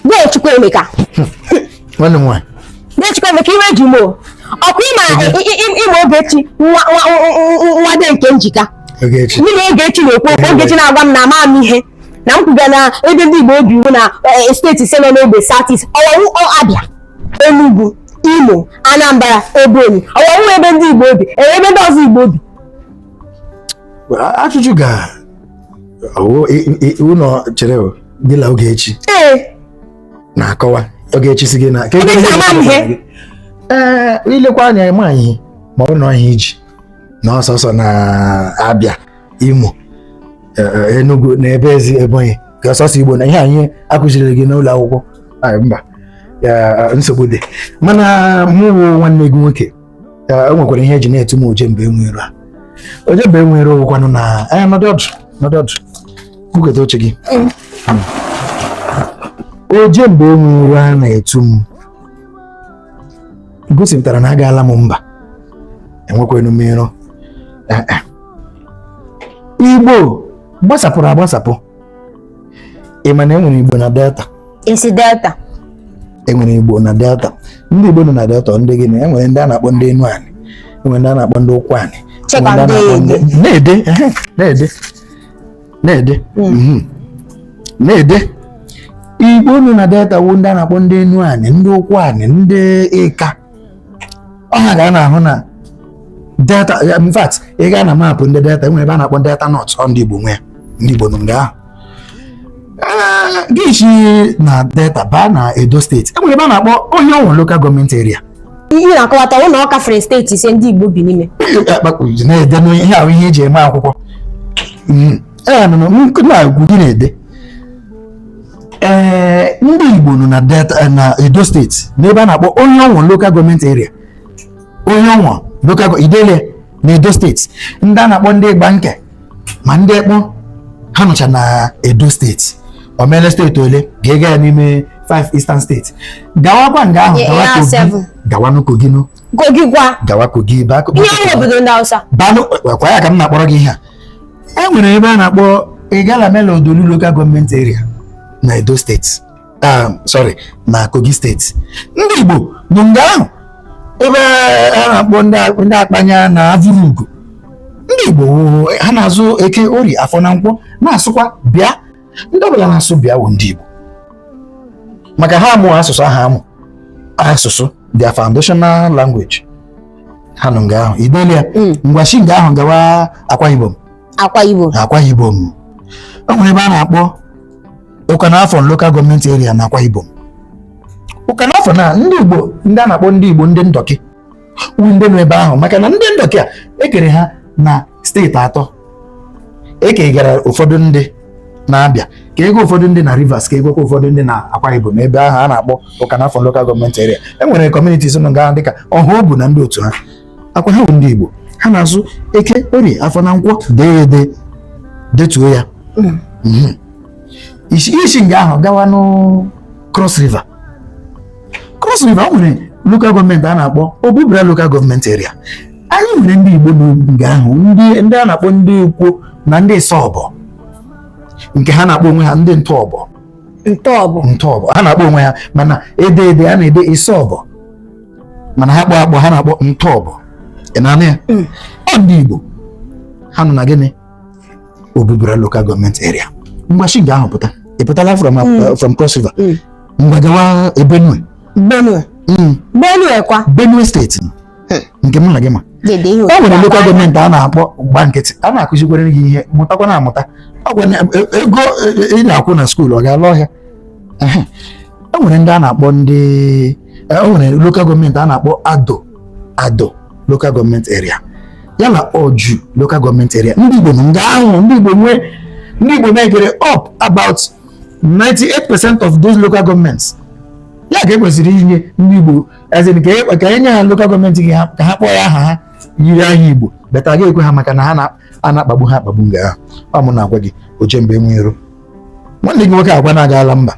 Dee Chukwuemeka. Nwanne m nwaanyị. Dee Chukwuemeka iwe ji m o. Ọkwa ị ma ị ma Ogechi nwa Dee Nkemjika. Ogechi. Ndị na Ogechi na-ekwu okwu Ogechi na-agwa m na ama m ihe na m kwuga na ebe ndị Igbo bi wụ na e, steeti ise nọ n'ogbe South-East ọ wa wụ Abia Enugu Imo Anambra Ebonyi ọ wa wụ ebe ndị Igbo bi ebe ndị ọzọ Igbo bi. Ajụjụ ga ụlọ chere gị na Ogechi na-akọwa Ogechi sị gị na ee i lekwa anya ịma anyị ma ọ nọ ihe iji na ọ sọsọ na Abia Imo e, e, Enugu na ebe ezi Ebonyi ka ọ sọsọ Igbo nọ ihe anyị akụziri gị n'ụlọ akwụkwọ mba nsogbu dị mana mụ nwanne gị nwoke o nwekwara ihe e ji na-etu m oje mba enwe iro a oje mba enwe iro wụkwanụ na anya nọdị ọdụ nọdị ọdụ buketa oche gị oje mba enwe iro a na-etu m gosipụtara na agaala m mba enwekwanụ m iro Igbo gbasapụrụ agbasapụ ị ma na e nwere Igbo na Delta ị sị Delta e nwere Igbo na Delta ndị Igbo nọ na Delta ndị gịnị e nwere ndị a na-akpọ ndị Enuanị e nwere ndị a na-akpọ ndị Ụkwụanị e na-ede na-ede na-ede hmm. mhm. na-ede Igbo nọ na Delta wụ ndị a na-akpọ ndị Enuanị ndị Ụkwụanị ndị Ịka ọ ha ka a na-ahụ na Delta in fact ị gaa na maapụ ndị Delta e nwere ebe a na-akpọ Delta North ọ ndị Igbo nwe ya ndị Igbo nọ nga ahụ gị si na Delta baa na Edo steeti e nwere ebe a na-akpọ Orhionmwon local government area ihe m na-akọwata wụ na ọ kafere steeti ise ndị Igbo bi n'ime na-ede ihe ahụ ihe eji eme akwụkwọ ee nọ na nkụ na-agwa gị na-ede ee ndị Igbo nọ na Delta eh, na Edo steeti n'ebe a na-akpọ Orhionmwon local government area Orhionmwon local i dele na Edo steeti ndị a na-akpọ ndị Igbanke ma ndị Ekpon ha nọcha na Edo steeti o meele steeti ole ga-ega ya n'ime 5 eastern steeti gawakwa nga ahụ gawa Kogi gawanụ Kogi nụ Kogi kwa gawa Kogi ebe ahụ ihe ọ wụ obodo ndị Hausa banụ kwa ya ka m na-akpọrọ gị ihe a e nwere ebe a na-akpọ Igalamela-Odolu local government area na Edo steeti ah, sorry na Kogi steeti ndị Igbo nọ nga ahụ ebe a na-akpọ ndị Akpanya na Avurugo ndị Igbo ha na-azụ Eke Orie Afọ na Nkwọ na-asụkwa bịa ndị ọbụla na-asụ bịa wụ ndị Igbo maka ha amụ asụsụ ahụ amụ asụsụ their foundational language ha nọ nga ahụ i dela ya hmm. ngwa shi nga ahụ gawa akwa ibom akwa ibom akwa ibom o nwere ebe a na-akpọ Ukanafun local gọọmenti area na akwa ibom Ukanafun ndị igbo ndị a na-akpọ ndị igbo ndị ndọkị wụ ndị nọ ebe ahụ maka na ndị ndọkị a e kere ha na steeti atọ e kegara ụfọdụ ndị na Abịa kega ụfọdụ ndị na Rivers kegakwa ụfọdụ ndị na Akwa Ibom ebe ahụ a na-akpọ Ukanafun lokal gọọmenti eria e nwere kọmunitis nọ nga dịka Ọhaobu na ndị otu ha akwa ha bụ ndị Igbo ha na-azụ eke orie afọ na nkwọ dee ede detuo ya hmm. Hmm. i shi nga ahụ gawa n'Cross River Cross River o nwere lokal gọọmenti a na-akpọ Obubra lokal gọọmenti eria anyị nwere ndị Igbo nga ahụ ndị a na-akpọ ndị Ikwo na ndị isọbọ nke ha na-akpọ onwe ha ndị ntọọbọ ntọọbọ ntọọbọ ha na-akpọ onwe ha mana ede ede a na-ede isọbọ mana ha kpọ akpọ ha na-akpọ ntọọbọ ị na-anụ ya hmm. ọ ndị Igbo ha nọ na gịnị Obubra local government area ngwa shi nga ahụ pụta ị pụtala from uh, Mm. from cross river Mm. ngwa gawa eh, benue benue Mm, benue kwa benue steeti nke mụ na gị ma dede ihe o nwere otu local gọọmenti a na-akpọ gba nkịtị a na-akụzikwara gị ihe mụtakwa na amụta Ọ gwa na- e- ego e- e- ị na-akwụ na skuul ọ ga-ala ọhịa Ehe. o nwere ndị a na-akpọ ndị o nwere lokal gọọmenti a na-akpọ ado ado lokal gọọmenti eria ya na oju lokal gọọmenti eria ndị Igbo nọ nga ahụ ndị Igbo nwee ndị Igbo mekere up about 98 percent of those local governments ya ka e kwesịrị inye ndị Igbo as in ka e nye ha lokal gọọmenti gị ka ha kpọọ ya aha yiri aha Igbo but a ga-ekwe ha maka na ha na-akpagbu ha akpagbu nga ahụ ọ mụ na-agwa gị oje mba enwe iro nwanne gị nwoke agwa na-agaala mba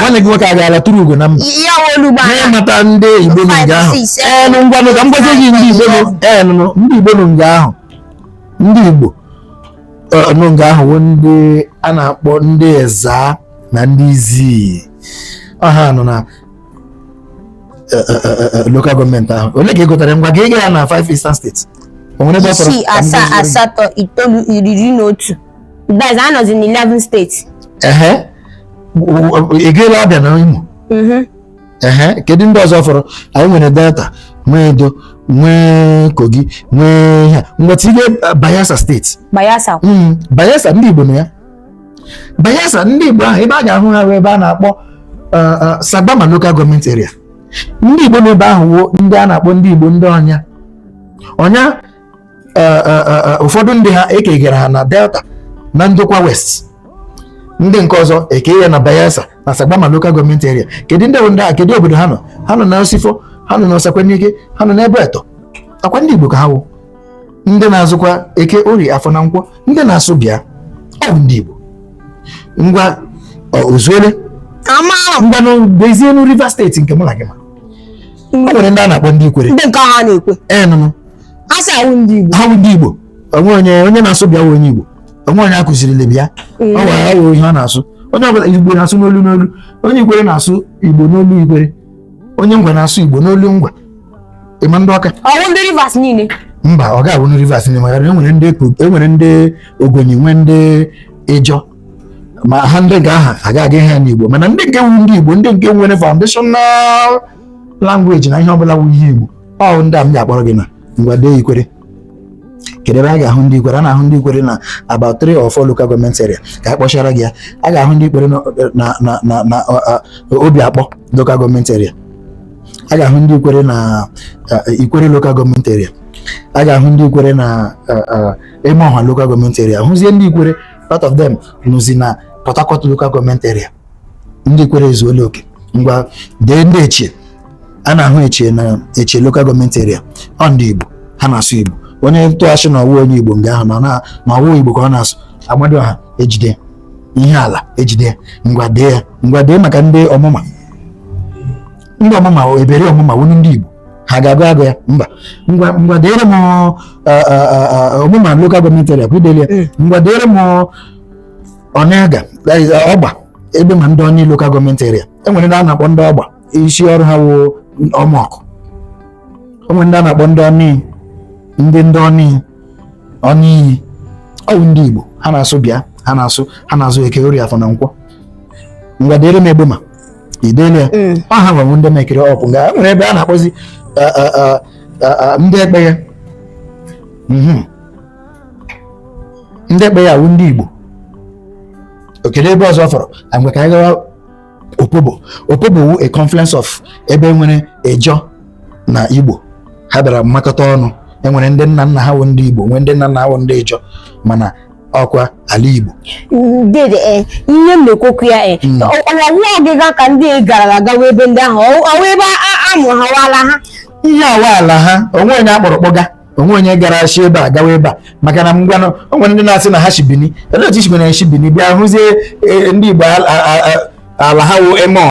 nwanne gị nwoke agaala tụrụ ugo na mba n'ịmata ndị igbo nọ nga ahụ enụ ngwanụ ka m gwazie gị ndị igbo nọ enụ ndị igbo nọ nga ahụ ndị igbo nọ nga ahụ wụ ndị a na-akpọ ndị ezza na ndị izii ọ ha nọ na lokal gọọmenti ahụ ole ka ị gụtara ngwa gị ịga ya na 5 eastern steeti o nwere ebe ọ fọrọ isii asaa asatọ itoolu iri na otu Guys, I was in 11 states. Uh-huh. Ị gaela Abịa na Imo? Mm-hmm. Uh-huh. Kedu ndị ọzọ fọrọ? Anyị nwere Delta, nwee Edo, nwee Kogi, nwee ha. Ngwa tinye uh, Bayelsa steeti. Bayelsa. Mm, Bayelsa ndị Igbo nọ ya. Bayelsa ndị Igbo ahụ ebe a ga-ahụ ha ebe a na-akpọ uh, uh, Sagbama local government area. Ndị Igbo nọ ebe ahụ wụ ndị a na-akpọ ndị Igbo ndị ọnya. Ọnya eh, eh, eh, ụfọdụ ndị ha ekegara ha na delta na ndokwa west ndị nke ọzọ eke ya na bayelsa na sagbama lokal gọọmenti eria kedu ndị ndị a kedu obodo ha nọ ha nọ na osifo ha nọ na osekwenike ha nọ n'abueto ọ kwa ndị igbo ka ha wụ ndị na-azụkwa eke orie afọ na nkwọ ndị na-asụ bịa ọ bụ ndị igbo ngwa ozuole ngwa bịazie na Rivers steeti nke mụ na gị ma o nwere ndị a na-akpọ ndị ikwere ndị nke ha na-ekwe ee nụnụ sị ha awụ ndị Igbo ha bụ ndị Igbo onwe onye onye na-asụ bịa wụ onye Igbo onwe onye akụzirili bịa ọ gwara ya ihe ọ na-asụ onye ọbụla Igbo na-asụ n'olu n'olu onye Ikwere na-asụ Igbo n'olu Ikwere onye Ngwa na-asụ Igbo n'olu Ngwa ịma ndị Ọka ọwụ ndị Rivers niile mba ọ ga-abụ ndị Rivers niile maka enwere ndị enwere ndị Ogoni nwee ndị Ịjọ ma ha ndị nke ahụ agụghị ha n'Igbo mana ndị nke wu ndị Igbo ndị nke nwere foundational language na ihe ọbụla wu ihe Igbo ọ ndị a m ga-akpọrọ gị na ngwa dee ikwere kedu ebe a ga-ahụ ndị ikwere a na-ahụ ndị ikwere na about three or four local government area ka a kpọchara gị ya a ga-ahụ ndị ikwere na obio akpọ local government area a ga-ahụ ndị ikwere na ikwere local government area a ga-ahụ ndị ikwere na emohua local government area hụzie ndị ikwere part of them nọzi na Port Harcourt local government area ndị ikwere ezuola okay ngwa dee ndị echie a na-ahụ echie na echie lokal gọọmenti eria ọ ndị Igbo ha na-asụ Igbo onye ntụghachi na ọwụ onye Igbo nga ahụ na ọwụ Igbo ka ọ na-asụ amadịọha ejide ihe ala ejide ngwa dee ya ngwa dee maka ndị ọmụma ndị ọmụma eberi ọmụma wụnụ ndị Igbo ha ga-agụ agụ ya mba ngwa ngwa deere m ọmụma lokal gọọmenti eria kwa idelia ngwa deere m onelga ọgba egbema ndọnị lokal gọọmenti eria enwere ndị a na-akpọ ndị ọgba isi ọrụ ha wụ ọmọkụ enwere ndị a na-akpọ ndọnị ndị ndọnị ọnị iyi ọwụ ndị igbo ha na-asụ bịa ha na-asụ ha na-azụ eke orie afọ na nkwọ ngwa deere m egbema idele ya mm. ọ ha nwa wụ ndị mekere up nga nwere ebe a na-akpọzi ndị ekpeye mhm. ndị ekpeye wụ ndị Igbo okay kedu ebe ọzọ fọrọ ngwa ka anyị gawa opobo opobo wu a confluence of ebe enwere Ijaw na Igbo ha bịara makọta ọnụ enwere ndị nna nna ha wụ ndị Igbo nwee ndị nna nna ha wụ ndị Ijaw mana ọkwa ala Igbo dede eh, ihe m na-ekwokwu ya eh, hmm. ọwa nwa ọgịga ka ndị gara agawa ebe ndị ahụ ọwụ ebe a mụrụ ha wụ ala ha ihe a wụ ala ha onwe onye akpọrọ kpọga o nwee onye gara shi ebe a gawa ebe a maka na ngwanụ o nwere ndị na-asị na ha shi Bini olee otu isigwe na e shi Bini bịa hụzie e, ndị Igbo a- a- a- a- ala ha wụ eme ọ-